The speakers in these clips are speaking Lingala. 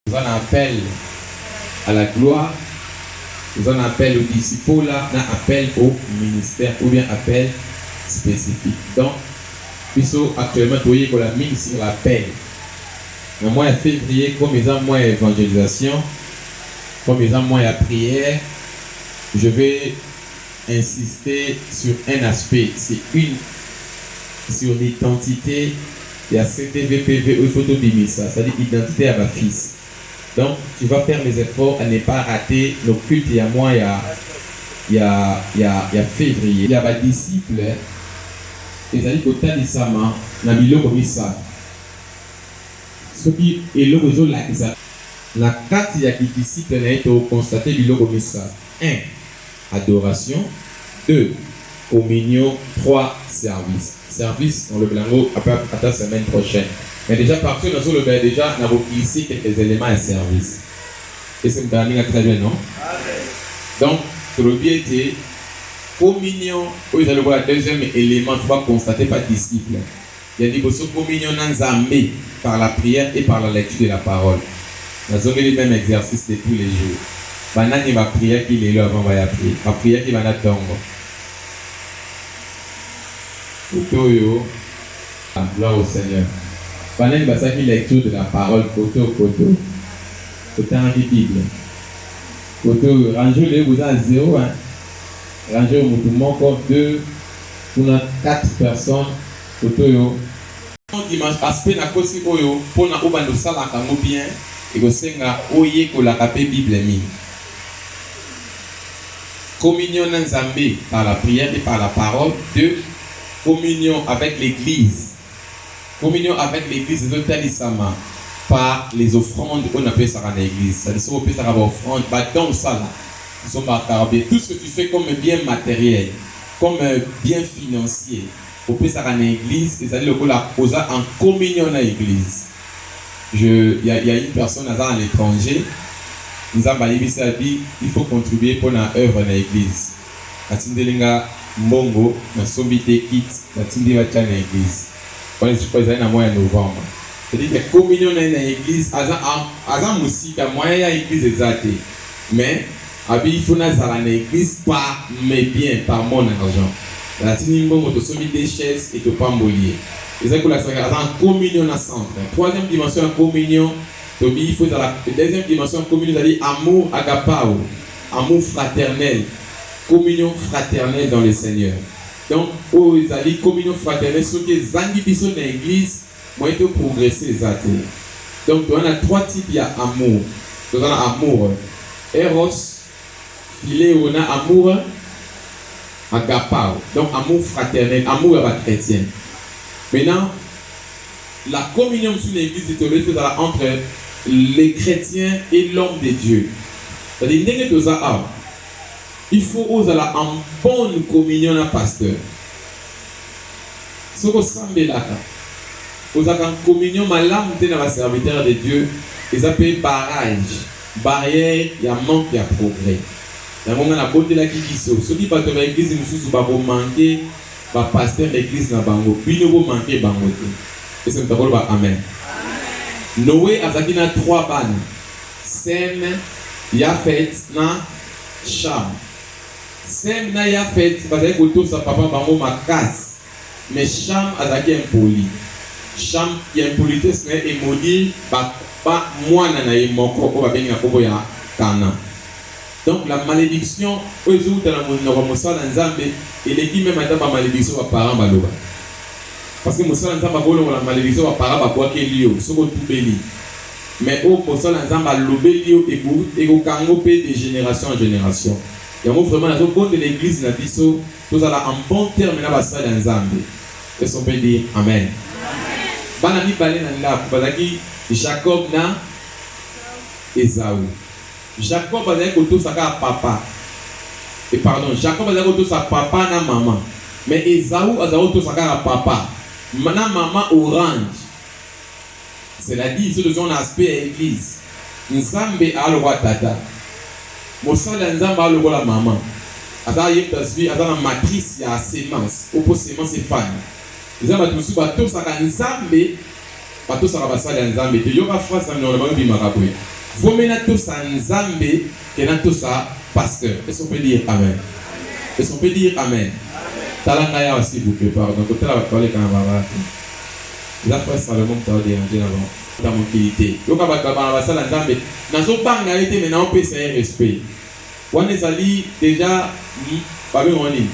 Toza na appel à la gloire, toza na appel au disipola na appel au ministère ou bien appel specifique donc biso actuellement toyekola mingi sur l'appel na mois ya fevrier comme eza mois ya evangelisation comme eza mois ya prière je vais insister sur un aspect c'est une sur l'identite ya CTVPV oyo il faut tobimisa c'est à dire identite ya ba fils donc tu vas faire les efforts à ne pas rater nos cultes ya mois ya ya ya fevrier. Ya ba disciples ezali kotalisama na biloko misato soki eloko ezolakisa na kati ya ki disciple na ye toko constater biloko misato un. Adoration deux communion trois service service na lobela yango ata semaine prochaine mais dejà partie oyo nazo lobela dejà na ko glisser quelques elements ya service est ce que mutala ndenge très bien non amen donc tolobi ete communion oyo ezali lokola deuxième élément faut ba constater ba disciples Ya liboso communion na nzambe par la prière et par la lecture de la parole. Nazongeli meme exercice de tous les jours. Ba nani ba priaki lelo avant baya prier? Ba priaki banda tongo. Kote oyo la gloire au seigneur. Ba nani basalaki lecture de la parole kote oyo kote oyo otangaki bible? Kote oyo range oyo lelo boza na zero hein. Range oyo mutu moko, deux. Kuna quatre personnes photo oyo. Bon dimanche aspe na kosi oyo pona obanda osalaka ngo bien ekosenga oyekolaka pe bible mingi communion na nzambe par la prière et par la parole de communion avec l'eglise communion avec l'eglise ezotalisama par les offrandes oyo napesaka na eglise sadi soki opesaka ba offrandes ba don osala esombaka carbe tout ce que tu fais comme bien materiel Comme bien financier opesaka na eglise ezali lokola oza en communion na eglise je ya ya une personne aza na l'etranger nzambe ayebisi abi il faut contribuer pona oeuvre na eglise atindeli nga mbongo na sombi te kit na tindi ba tia na eglise wana je crois ezali na mois ya novembre c'est dire que communion na ye na eglise aza aza musika moyen ya eglise eza te mais Abi il faut nazala na eglise par mes biens par mon argent atindi mbongo tosombi deux chaises et topamboli ye ezali kolakisa que aza en communion na centre troisième dimension ya communion tobi il faut ezala deuxième dimension ya communion ezali amour agapao amour fraternel communion fraternelle dans le seigneur donc oyo ezali communion fraternelle soki ezangi biso na eglise Moyen to progresser eza te. Donc toza na trois types ya amour. Toza na amour eros, phileo na amour agapao. Donc amour fraternel, amour ya ba chretiens. Maintenant la communion mosusu na eglise tolobeli il faut ezala entre le chretien et l'homme de Dieu. C'est à dire ndenge toza awa il faut ozala en bonne communion na pasteur. Soki osambelaka, ozalaka en communion malamu te na ba serviteurs de Dieu, eza pe barrage, barrière ya manque ya progrès. Yango ngai nabondelaki biso, soki bato ya ba eglises mosusu ba ko manquer ba pasteurs ya eglise na bango, bino bo manquer bango te. Est-ce que moto akoloba amen? Noe azalaki na trois bana, Sem, Yafet na Cham. Sem na Yafet bazalaki kotosa papa bango makasi, mais Cham azalaki impoli. Cham ya impolitesse na ye e maudit ba ba mwana na ye moko oyo babengi na kombo ya Canan. Donc la malediction oyo ezo wuta na monoko ya mosala na Nzambe eleki meme ata ba malediction ba parents baloba. Parce que mosala ya Nzambe akolongola malediction ba parents babwakeli yo soki otubeli. Mais oyo posa na nzambe alobeli yo ebout ekokango pe de generation en generation yango vraiment nazo bondela eglise na biso tozala en bon terme na ba sali ya nzambe est on peut dire amen bana mibale na ndaku bazalaki jacob na ezau jacob azalaki kotosa kaka papa et pardon jacob azalaki kotosa papa na mama mais ezau azalaki kotosa kaka papa na mama orange Cela dit, soki tozongi na aspect ya eglise, Nzambe aza lokola tata, mosali ya Nzambe aza lokola mama. Aza ye moto azui, aza na matrice ya semence, oyo mpo semence efanda. Eza bato mosusu batosaka Nzambe, batosaka basali ya Nzambe te. Yoka phrase na minoko na bango ebimaka boye, Vaut mieux natosa Nzambe que natosa pasteur. Est-ce qu'on peut dire amen? Est-ce qu'on peut dire amen? Tala ngai awa s'il vous plait, pardon, kotala bato baleka na balabala te. Eza frère Salomon moto azo deranger na ba ta mokili te yoka bato ya bana basala nzambe nazo banga ye te mais nao pesa ye respect wana ezali dejà ba benga ngo nini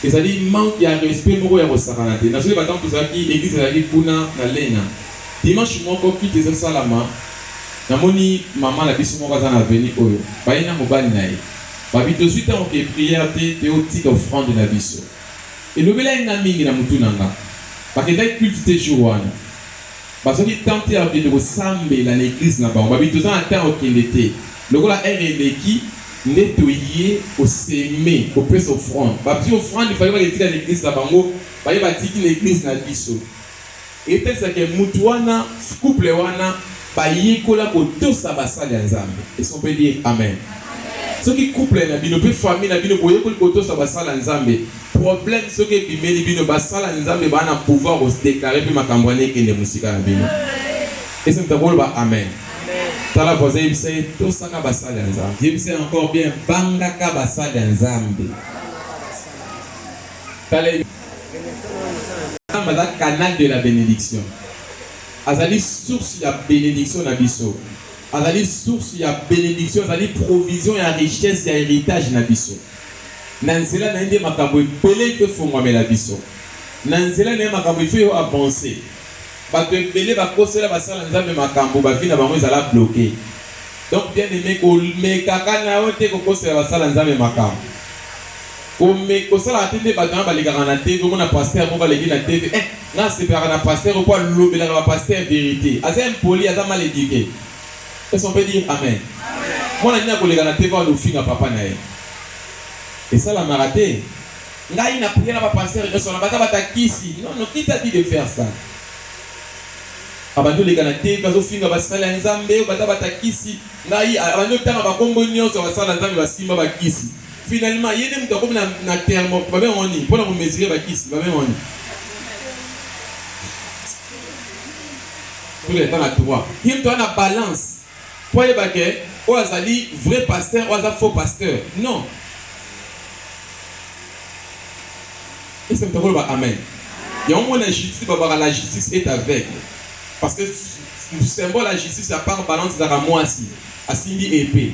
ezali manque ya respect moko ya kosakana te nazo yeba tango tozalaki eglise ezalaki kuna na lena dimanche moko kiti ezo salama namoni mama na biso moko aza na avenue oyo baye na mobali na ye babi tozwi tango ke prière te toyo tika offrande na biso Elobelaki nga mingi na mutu na nga. Bakendaki culte te jour wana. Bazwaki temps te ya kokende kosambela na eglise na bango. Babi toza na temps ya kokende te. Lokola heure eleki nde toye ko semer, kopesa offrande. Babzi offrande il fallait baketika na eglise na bango, baye batiki na eglise na biso. Etalisa ke mutu wana, couple wana ba yekola ko tosa ba sali ya Nzambe. Est ce qu'on peut dire amen? Soki couple na bino pe famille na bino bo yekoli ko tosa ba sali ya Nzambe, problème soki e bimeli bino, ba sali ya Nzambe ba na pouvoir ko se declarer pe makambu wana e kende musika na bino. Est ce que mutu akoki ko loba amen? Tala voisin yebisa ye tosaka ba sali ya Nzambe. Yebisa ye encore bien bangaka ba sali ya Nzambe. Tala ye. Nzambe aza canal de la benediction. Azali source ya benediction na biso. Azali source ya benediction, azali provision ya richesse ya heritage na biso. Na nzela na ye nde makambo ebele mpe fongwamela biso. Na nzela na ye makambo ife yo avance. Bato ebele bakosela basala Nzambe makambo, ba vie na bango ezala bloquer. Donc bien aime, komekaka na yo te kokosela basala Nzambe makambo. Kome kosalaka te nde bato wana balekaka na TV omona pasteur moko aleki na TV eh nga nasepelaka na pasteur oyo po alobelaka ba pasteur verite aza impoli aza mal eduque est-ce qu'on peut dire amen mwana nini akoleka na TV wana ofinga papa na ye esalamaka te ngai na priere na ba pasteur nyonso wana baza batakisi non non qui t'a dit de faire ça abandi oleka na TV azofinga basali ya nzambe baza batakisi ngai abandi otanga bakombo nyonso basala nzambe basimba bakisi Finalement ye nde mutu akomi na, na thermo babenga ngo nini pona ko mesurer ba kisi babenga ngo nini tout le temps na droit ye mutu aza na balance po ayeba ke oyo azali vrai pasteur oyo aza faux pasteur non ese mutu akoloba amen yango mona justice babaka la justice est aveugle parce que symbole ya justice ya part balance ezalaka mwasi asimbi epee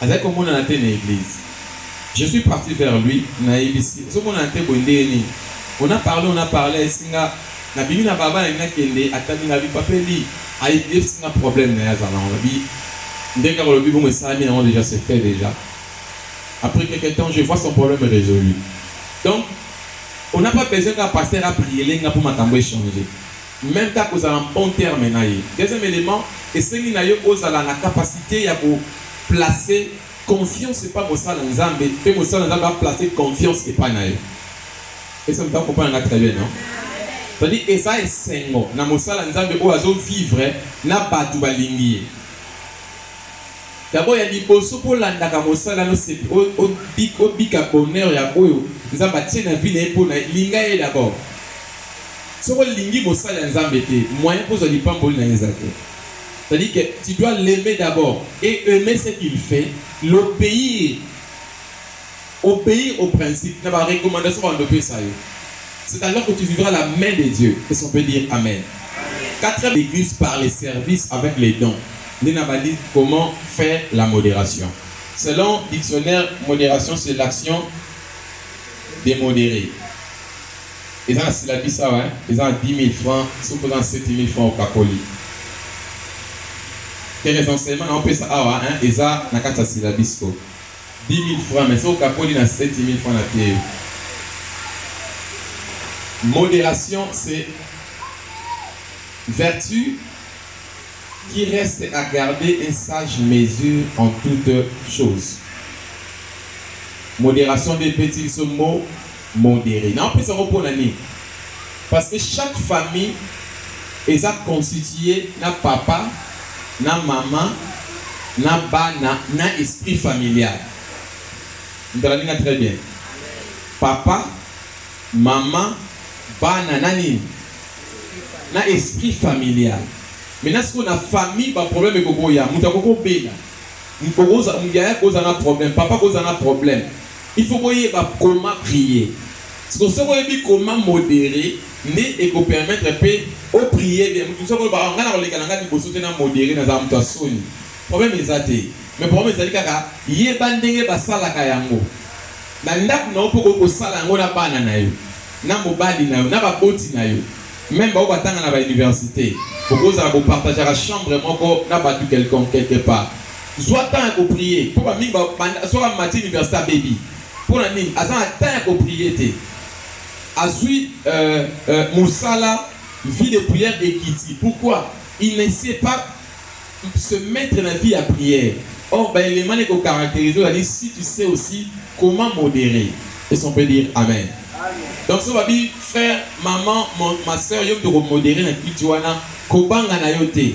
Azali komonana te na eglise. Je suis parti vers lui, na yebisi ye, ozo monana te boye ndenge nini? On a parle, on a parle, ayebisi nga na bimi na balabala nalingi na kende, atali nga, abi papa Eli, ayebisi nga problème naye azali nango, nabi ndenge kaka olobi bongo esalami nango dejà, c'est fait dejà. Après quelque temps, je vois son problème resolu. Donc, on a pas besoin kaka pasteur a priele nga po makambo e changer. Meme kaka kozala en bon terme na ye. Deuxième element, esengi na yo ozala na capacite ya ko placer confiance epai ya mosali na Nzambe mpe mosali na Nzambe a placer confiance epai na yo. Est ce que moto azo comprendre nga très bien? Non? C'est à dire eza esengo na mosali na Nzambe oyo azo vivre na batu balingi ye. D'abord ya liboso po landaka mosala no sepe o bika bonheur ya oyo nzambe a tie na vie na ye po na ye linga ye d'abord soki o lingi mosali ya nzambe te moyen po zwa lipamboli na ye eza te c'est à dire que tu dois l'aimer d'abord et aimer ce qu'il fait l'obeir Obeir au principe na ba recommandation ba bando pesa yo c'est alors que tu vivra la main de Dieu est ce qu'on peut dire amen quatrième eglise par les services avec les dons nde na bandi comment faire la moderation selon dictionnaire moderation c'est l'action de modere eza na syllabus awa hein? eza na 10 000 francs soki oza na 7 000 francs okakoli te les enseignements na opesa awa hein? eza na kati ya syllabus ko Dix mille francs mais soki okakoli na sept mille francs na teyo. Moderation c'est vertu qui reste à garder une sage mesure en toute chose. Moderation nde epeti biso mot. Modere. Nao pesa yango pona nini? Parce que chaque famille eza constitue na papa, na maman, na bana, na esprit familial. Moto alandi nga très bien? Papa, maman, bana, na nini? Na esprit familial. Maintenant sikoyo na famille ba problème ekokoya, moto akoki kobela, yaya akoki kozala na problème, papa akoki kozala na problème, Il faut boyeba comment prier. Sikoyo soki oyebi comment moderer nde eko permettre pe o prier bien. Mutu mosusu ako loba ah nga nako leka na nga liboso te na moderer nazala mutu ya soni. Problème eza te mais problème ezali kaka yeba ndenge ba salaka yango na ndaku na yo pe okoki ko sala yango na bana na yo, na mobali na yo, na ba boti na yo meme ba oyo ba tanga na ba universite. Boko zala bo partageaka chambre moko na batu quelconque quelque part. Zua temps ya ko prier po ba mingi ba banda soki amati universite abebi pona nini aza na temps ya ko prier te azui euh euh musala vie de prière ekiti pourquoi il ne sait pas se mettre na vie ya prière or ba element na ko caracteriser ozali si tu sais aussi comment moderer est-ce qu'on peut dire amen donc so babi frère maman ma soeur yo moto ko moderer na kiti wana kobanga na yo te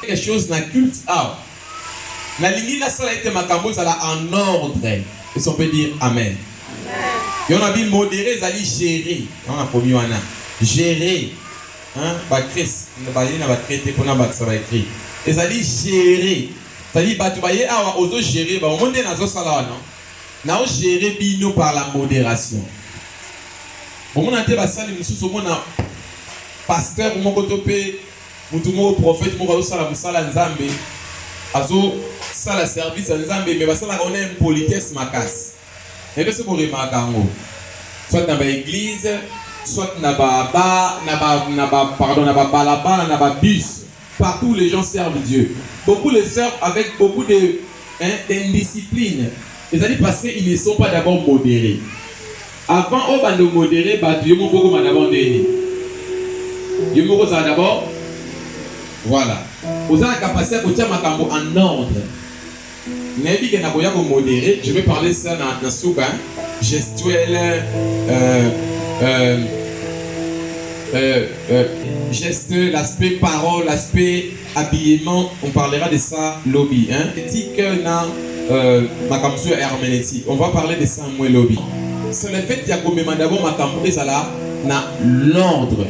Quelque chose na culte awa. Nalingi nasala ete makambo ezala en ordre. Est-ce qu'on peut dire amen? Yango nabi moderer ezali gerer. Yango nakomi wana. Gerer. Hein? Ba cris. Bazali na ba cris te mpo nabakisa ba cris. Ezali gerer. C'est-à-dire bato baye awa ozo gerer bango. Omoni nde nazosala wana? Nao gerer bino par la moderation. Bomona te basali mosusu omona pasteur moko to mpe Mutu moko prophète moko azo sala musala ya nzambe azo sala service ya nzambe mais basalaka ona impolitesse makasi nayebi te soki bo remarka yango soit na ba eglise soit na ba ba na ba na ba pardon na ba balabala na ba bus partout les gens servent Dieu beaucoup les servent avec beaucoup de hein d'indiscipline ezali parce qu'ils ne sont pas d'abord moderes Avant obanda o moderer batu yo moko okoma d'abord nde nini? Yo moko ozala d'abord voilà oza na capacite ya kotia makambo en ordre nayebi ke nakoya ko moderer je vais parler ça na, na suka hein? gestuelle euh, euh, euh, euh, geste l'aspect parole l'aspect habillement on parlera de ça lobi hein éthique na euh, makambo ya herméneutique on va parler de ça mwe lobi c'est le fait ya komema d'abord makambo ezala na l'ordre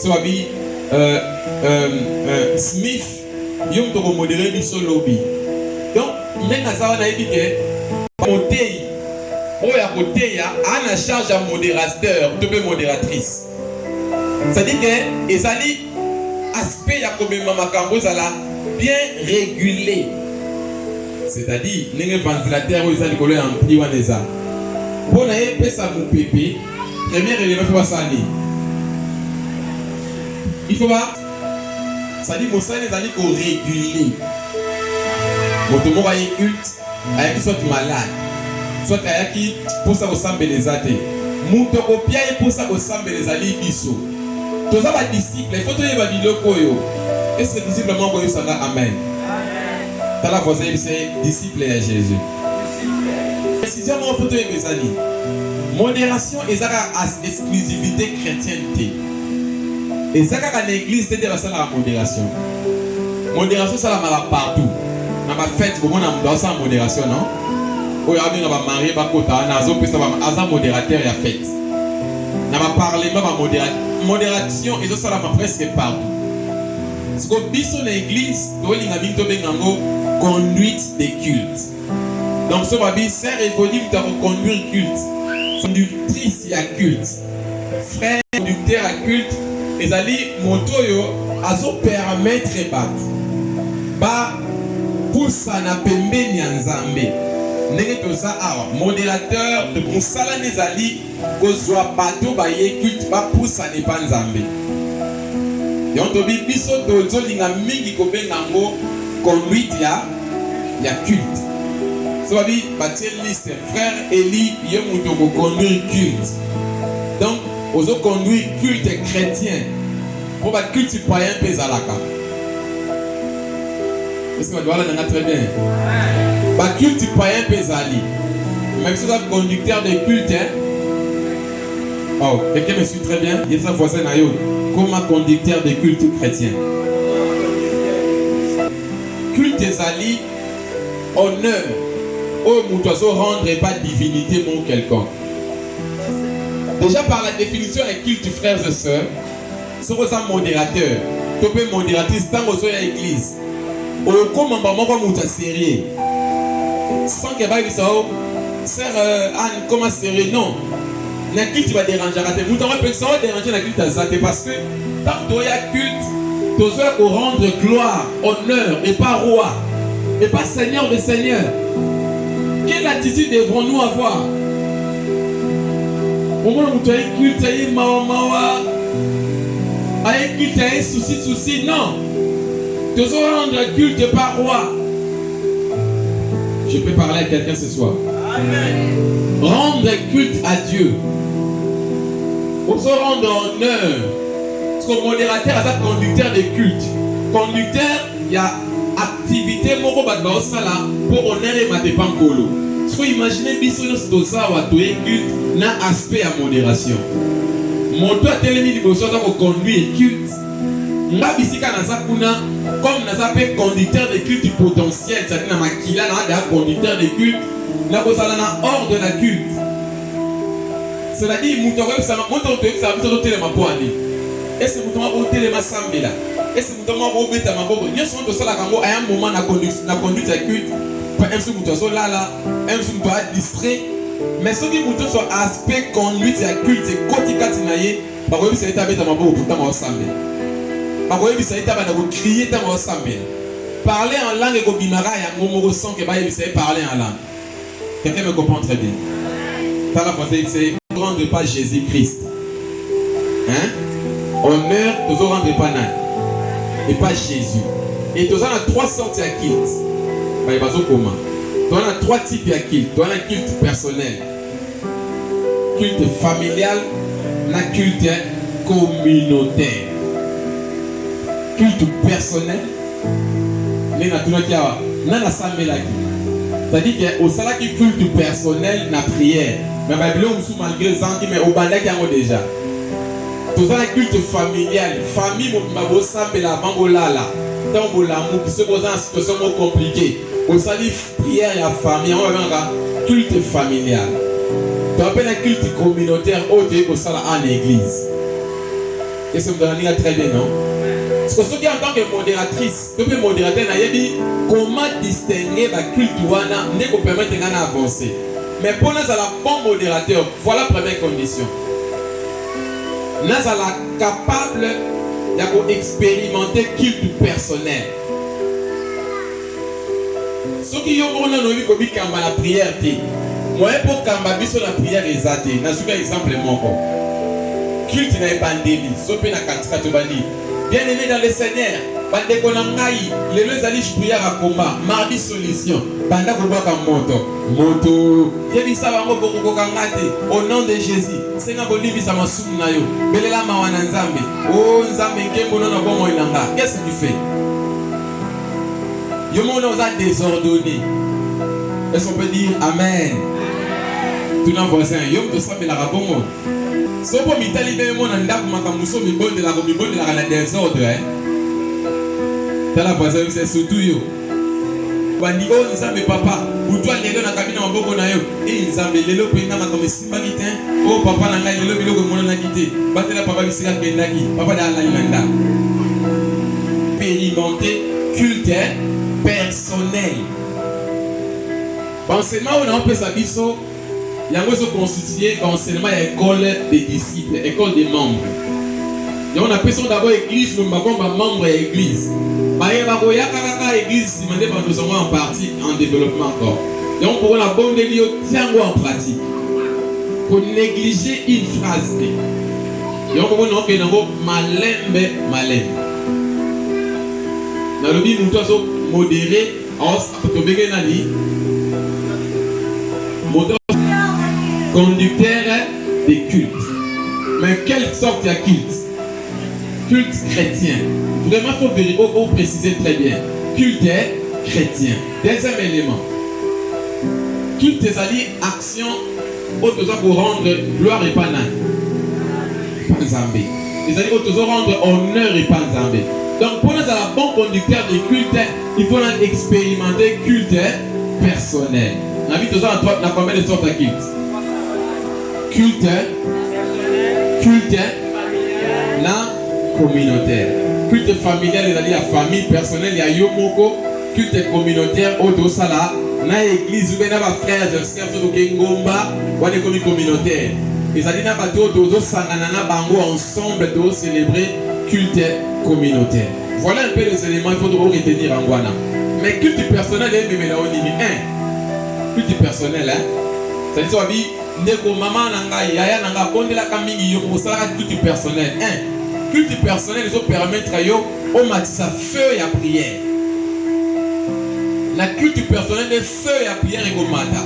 so babi euh, euh, euh, smith yo moto okomodere biso lobi donc nde naza wana yebi ke moteyi oyo akoteya ana charge ya modérateur to mpe modératrice C'est dit que ezali aspect ya komema makambo ezala bien régulé. C'est-à-dire ndenge ventilateur oyo eza likolo ya ampli wana eza mpo na ye epesa mopepe première élément fo basala nini il faut ba c'est-à-dire mosala ezali koregule moto moko aye culte Ayaki soit malade, soit ayaki posa kosambela eza te. Moto akopia ye posa kosambela ezali biso. Toza ba disciples, il faut toyeba biloko oyo. Est-ce que disciple moko akoyebisa nga amen? Tala voisin yebisa ye disciple ya Jesus. Precision moko faut toyeba eza nini? Moderation eza kaka as exclusivite chrétienne te. Eza kaka na eglise te nde basalaka moderation. Moderation esalamaka partout. Na ba fete bomona moto asala moderation non? Oyo abenga ba marie bakota wana azopesa ba aza moderateur ya fete. Na ba parlement ba modera moderation ezosalama presque partout. Siko biso na eglise tolinga mingi tobenga yango conduite de culte. Donc soki babi sœur Evodi moto ya koconduire culte, conductrice ya culte, frère conducteur ya culte, ezali moto oyo azopermettre bato bapusana pembeni ya Nzambe. Ndenge toza awa, moderateur, mosala nde ezali Kozua bato baye culte ba pusana epa Nzambe. Donc tobi biso tozo linga mingi ko benga ngo conduite ya ya culte. So babi batie liste frère Elie yo mutu oko conduire culte. Donc ozo conduire culte chretien. Po ba cultes païens pe ezalaka. Est-ce que bato balanda nga très bien? Ba cultes païens pe ezali. Même si oza conducteur de culte, hein? Oh, quelqu'un me suit très bien? Yebisa voisin na yo, koma conducteur de culte chrétien. Culte ezali honneur oyo moto azo rendre epa divinité moko quelconque. Déjà par la définition ya culte frères et sœurs, soki oza moderateur to mpe moderatrice ntango ozoya eglise okoma mba moko moto ya serieux sans ke bayebisa yo sere euh, anne koma serieux non na culte baderangeaka te moto yango apekisa yo derange na culte aza te parce que ntango toya culte tozoya korendre gloire Honneur et pas roi et pas seigneur de seigneur. Quelle attitude devrons-nous avoir? omona moto aye culte aye mawa mawa aye culte aye souci souci non tozo rendre culte par roi je peux parler à quelqu'un ce soir Amen. rendre culte à Dieu ozo rendre honneur Son moderateur aza conducteur de culte, conducteur ya activité moko bato baosala mpo honneur emata epa nkolo. Siko imagine biso nyonso toza awa toye culte na aspect ya moderation. Moto atelemi liboso aza koconduire culte, nga bisika naza kuna comme naza mpe conducteur de culte potentiel, cetadire na makila naza deja conducteur de culte, nakozala na ordre na culte. C'est-à-dire, moto akoyebisama, moto akoyebisama biso totelema mpo ani. Ese moto moko otelema sambela. Ese moto moko obeta maboko. Nyonso moto osalaka yango aya moment na conduite na conduite ya culte. Mpo MC moto azolala, MC moto a distrait. Mais soki moto nyonso aspect conduite ya culte ekoti kati na ye, bakoyebisa ye te abeta maboko mpo ntango asambela. Bakoyebisa ye te abanda kokrie ntango asambela. Parler en langue ekobimaka yango moko sans que bayebisa ye parler en langue. Quelqu'un me comprend très bien. Tala français yebisa ye rendre pas Jésus Christ. Hein? Honneur tozo rendre pas nani? Et pas Jésus. Et toza na trois sortes ya culte. Baye bazokoma. Toza na trois types ya culte. Toza na culte personnel. Culte familial na culte communautaire. Culte personnel nde natunaki awa na nasambelaki c'est-à-dire que osalaki culte personnel na prière mais babiloko mosusu malgré ezangi mais obandaki yango déjà toza na culte familial famille mobimba bosambela avant bolala ntango bolamuki soki boza na situation moko compliqué bosali Prière ya famille yango babengaka culte familial to mpe na culte communautaire oyo toyei kosala en église ese moto analinga très bien non siko soki en tant que modératrice to mpe modérateur nayebi comment distinguer baculte wana nde kopermettre ngai na avance mais mpo nazala bon modérateur voilà première condition nazala capable ya koexperimente culte personnel Soki yo moko nanu oyebi komikamba na prière te, moyen mpo okamba biso na prière eza te. Nazwi kaka exemple moko, culte na ebandeli so mpe na katikati obandi Bien aime dans le Seigneur, bandeko na ngai, lelo ezali prière ya combat, mardi solution, banda kobwaka moto moto, yebisa bango bokokoka nga te, au nom de Jésus, senga kolimbisa masumu na yo, belela mawa na Nzambe, oh Nzambe nkembo no na bomoi na nga, qu'est-ce que tu fais? Yo mon oza désordonné. Est-ce qu'on peut dire amen? Tu n'as voisin, yo mto sambela kabongo. Sopo mitali be mona ndaku makambo so mibondela ko mibondela kana désordre hein. Tala voisin c'est surtout yo. Bandi oh Nzambe papa, butwa lelo na kabina maboko na yo. Eh Nzambe lelo pe nga makambo baki te o oh, papa na ngai lelo biloko emonanaki te batela papa bisika akendaki papa da alali na ndako expérimenté culte personnel baenseignement oyo naopesa biso yango ezoconstitue baenseignement ya école des disciples école des membres yango napesi yango dabord église meme bakoma bamembre ya église baye bakoyaka kaka église nsima nde bandozango en partie en développement encore yango mpokola bondeli yo Tia yango en pratique. Ko negliger une phrase te. Yango mona okende yango malembe malembe. Nalobi moto azo modere tobenge nani moto conducteur de culte. Mais quelle sorte ya culte? Culte chrétien. Vraiment faut vérifier, faut préciser très bien. Culte chrétien. Deuxième element, culte ezali action oyo toza ko rendre gloire epa nani? Epa Nzambe. Ezali oyo tozo rendre honneur epa Nzambe. Donc mpo nazala bon conducteur de culte, il faut na expérimenter culte personnel. Na bi toza na na combien de sortes ya culte? Culte, culte na communautaire. Culte familial ezali ya famille personnelle ya yo moko culte communautaire oyo tosala na eglise ube na bafrères et sœurs oyo toke ngomba wana ekomi communautaire ezali na bato oyo tozosangana na bango ensemble tozocelebre culte communautaire voilà un peu les éléments il faut tokoretenir yango wana mais culte personnel ememela yo nini un culte personnel hein? cest à wabi ndeko mama na ngai yaya na ngai abondelaka mingi yo osalaka culte personnel un culte personnel ezopermettre yo Omatisa feu ya prière na culte personnel nde feu ya prière ekomata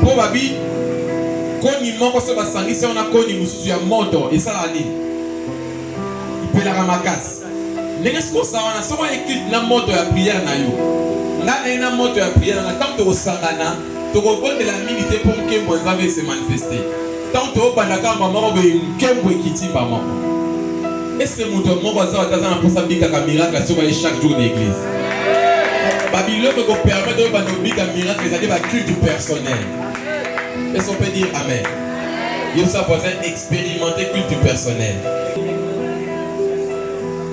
po babi koni moko se basangisi yango na koni mosusu ya moto esalaka nini? Epelaka makasi ndenge soki oza wana soki oye culte na moto ya prière na yo nga naye na moto ya prière na ntango tokosangana Tokobondela mingi te mpo nkembo ya Nzambe e se manifester. Ntango tobanda kaka mbala moko boye, nkembo ekiti mbala moko. Est ce que moto moko aza ata aza na mposa abikaka miracle soki aye chaque jour na eglise? Ba biloko ekopermettre yo banda obika miracle ezali ba culte personnel. Est ce qu'on peut dire amen? Yebisa voisin expérimenter culte personnel.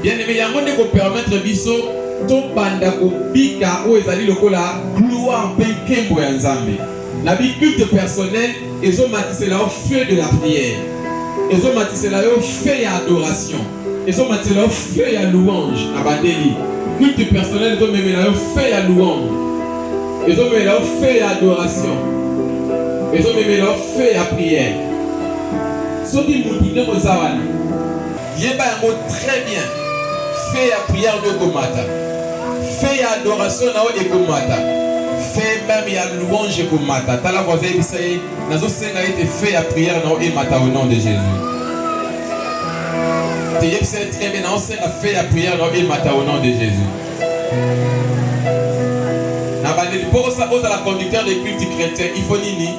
Bien aime, yango nde ko permettre biso tobanda kobika oyo ezali lokola gloire mpe nkembo ya Nzambe na bi culte personnel, ezomatisela yo feu de la prière, ezomatisela yo feu ya adoration, ezomatisela yo feu ya louange na bandeli. Culte personnel ezomemela yo feu ya louange, ezomemela yo feu ya adoration, ezomemela yo feu ya prière. soki moto nde koza wana Yeba yango très bien feu ya prière no ekomata feu ya adoration na yo ekomata feu meme ya louange ekomata tala voisin yebisa ye nazosenga ete feu ya prière na yo emata au nom de Jésus teyebisa ye très bien naosenga feu ya prière na yo emata au nom de Jésus na bandeli mpo ozala conducteur de culte chrétien il faut nini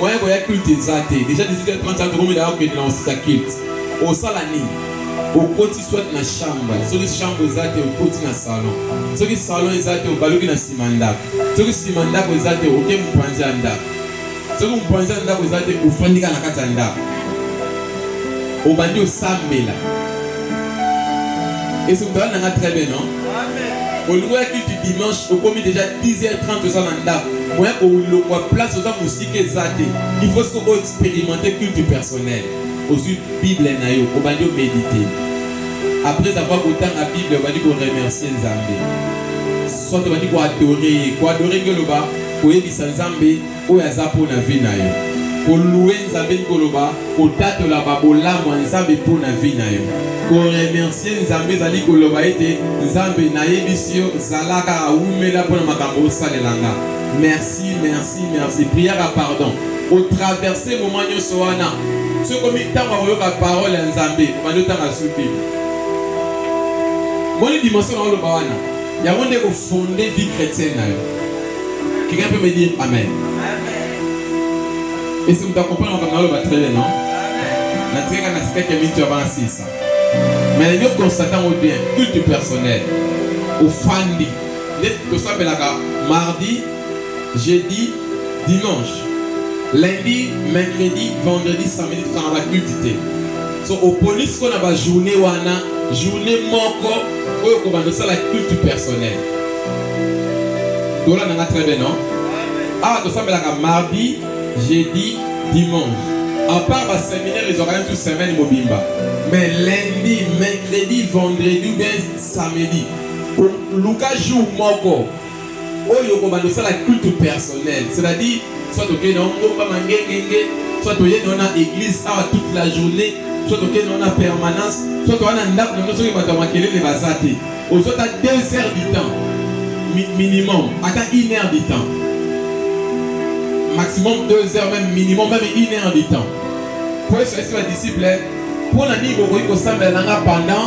Moyen koya culte eza te. Dejà 18h30 wana tokomela ya kokende na kosisa culte. Osala nini? Okoti soit na chambre. Soki chambre eza te okoti na salon. Soki salon eza te obaluki na sima ndako. Soki sima ndako eza te oke mupanzi ya ndako. Soki mupanzi ya ndako eza te ofandi kaka na kati ya ndako. Obandi osambela. Est ce que otalani na nga très bien non? olingo ya culte dimanche okomi déjà 10h30 oza na ndako moya kolongwa place oza mosika eza te il faut soki oexperimente culte personnel ozwi bible na yo obandi omedite après avoir kotanga bible obandi koremercie nzambe soit obandi koadore ye koadore nge oloba koyebisa nzambe Oyo aza po na vie nayo. Ko louer Nzambe elingi koloba ko tatola ba bolamu ya Nzambe po na vie nayo. Ko remercier Nzambe ezali koloba ete Nzambe nayebisi yo zala kaka wumela po na makambo osalela nga. Merci, merci, merci. Prière ya pardon. O traverser moment nionso wana. Soki ekomi tango ya koyoka parole ya Nzambe, obandi otanga sous bible. Omoni dimension naoloba wana? Yango nde eko fonder vie chretienne nayo. Quelqu'un peut me dire Amen? Et si vous accompagnez comme dans le batterie, non? Na tika na sika kemi tu avance sisa. Mais nous constatons bien culte personnel au fandi. Nde tosambelaka mardi, jeudi, dimanche. Lundi, mercredi, vendredi, samedi tokangaka culte te. So opolisi mpo na ba journée wana journée moko oyo kobanda osala culte personnel. Tola nanga très bien non? Ah, to sambelaka mardi, jeudi, dimanche. À part ba séminaire ezwaka même tout semaine mobimba. Mais lundi, mercredi, vendredi ou bien samedi. Luka jour moko oyo okobanda osala culte personnel c'est-à-dire soit okei na ongomba mangengenge soit oyei na wana église awa toute la journée soit okei na wana permanence soit wana ndako na biso soki bato ya makelele baza te ozwa ata deux heures du temps mi, minimum ata une heure du temps maximum deux heures même minimum même une heure du temps po yesu ayesi badisciple mpo na nini bokoki kosambela na nga pendant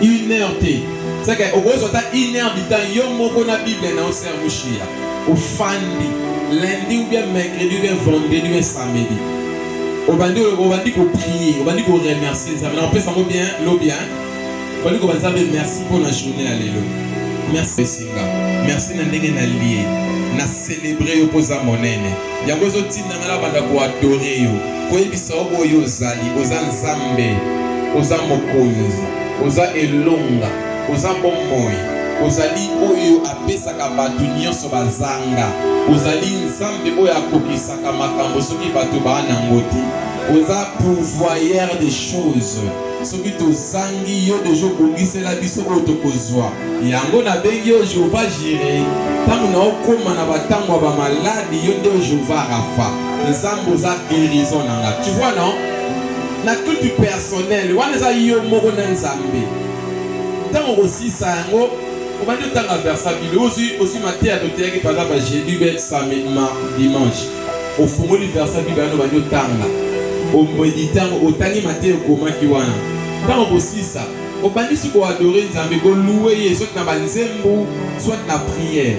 une heure te seke okozwa ata une heure du temps yo moko na bible na osermushiya ofandi lundi ou bien mercredi ou bien vendredi ou bien samedi obandi obandi koprie obandi koremercie nzambe na opesa yango bien lobi hein Bali ko banzambe merci pour la journée ya lelo. Merci singa. Merci na ndenge na liye. Na célébrer yo poza monene. Yango ezo tinda ngala banda ko adorer yo. Koyebisa yo boyo ozali, oza nzambe, oza mokonzi, oza elonga, oza bomoi, ozali oyo apesaka bato nyonso bazanga, ozali nzambe oyo akokisaka makambo soki bato baa nango te, oza pouvoyeur des choses. Soki tozangi yo, deja obongisela biso oyo tokozwa. Yango nabengi yo Jehovah Jire. Ntango naokoma na bantango ya bamaladi, yo nde Jehovah Rapha. Nzambe, oza guerison na nga. Tu vois, non? Na culte personnel, wana eza yo moko na Nzambe. Ntango okosisa yango, obandi otanga verse ya Bible, ozwi, ozwi mateya toteyaki par exemple jeudi, samedi, dimanche. Ofungoli verse ya Biblia wana obandi otanga, omedite yango, otangi mateya ekomaki wana. Ntango okosisa, obandisi koadore Nzambe, koluwe ye, soit na banzembo, soit na priere.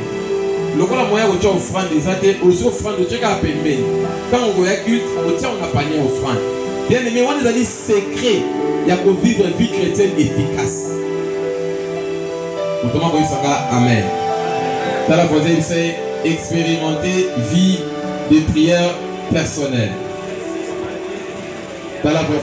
Lokola moyen ya kotya ofrande eza te, ozwi ofrande otye kaka pembeni. Ntango okoya culte, otye yango na panier ya ofrande. Bien-aime, wana ezali. Secret ya ko vivre vie chretienne efficace. Moto moko ayebisa nga amen. Tala voisin yebisa ye experimenter vie de prière personnelle. Tala voisin.